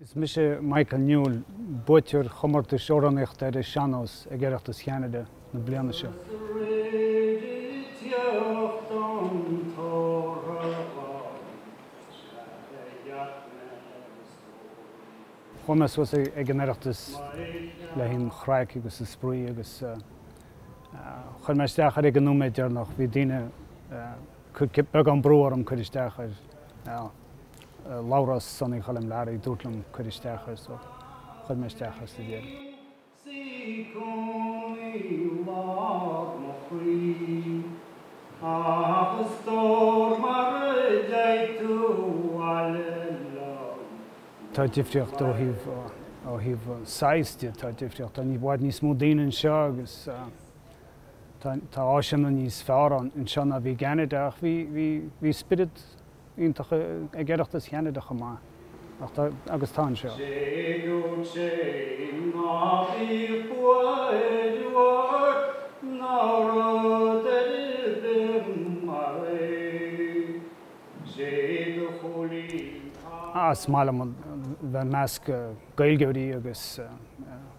Is mise Michael Newell, buaiteoir chomórtas amhránaíochta ar an sean-nós ag Oireachtas Cheanada na bliana seo. Chuaigh mé suas ag an Oireachtas le haghaidh an chraic agus an spraoi agus chuir mé isteach air ag an nóiméad deireanach. Bhí daoine. Beagán brú orm cur isteach air. Labhrás Sonaí Choilm Learaí, dúirt liom cur isteach air so chuir mé isteach air sa deireadh. Sí cónaí lag mo chroí agus tabhair mar a deir tú abhaile liom. Tá difríocht ó thaobh ó thaobh size de, tá difríocht, tá i bhfad níos mó daoine anseo agus Tá áiseanna níos fearr ann anseo ná bhí i gCeanada ach bhí bhí spiorad iontach ag Oireachtas Cheanada chomh maith agus tá anseo. Cé go dtéim ná bíodh fuath uair ná rud ar bith mar é Cé do chúilín tá Is maith liom bheith i measc Gaeilgeoirí agus.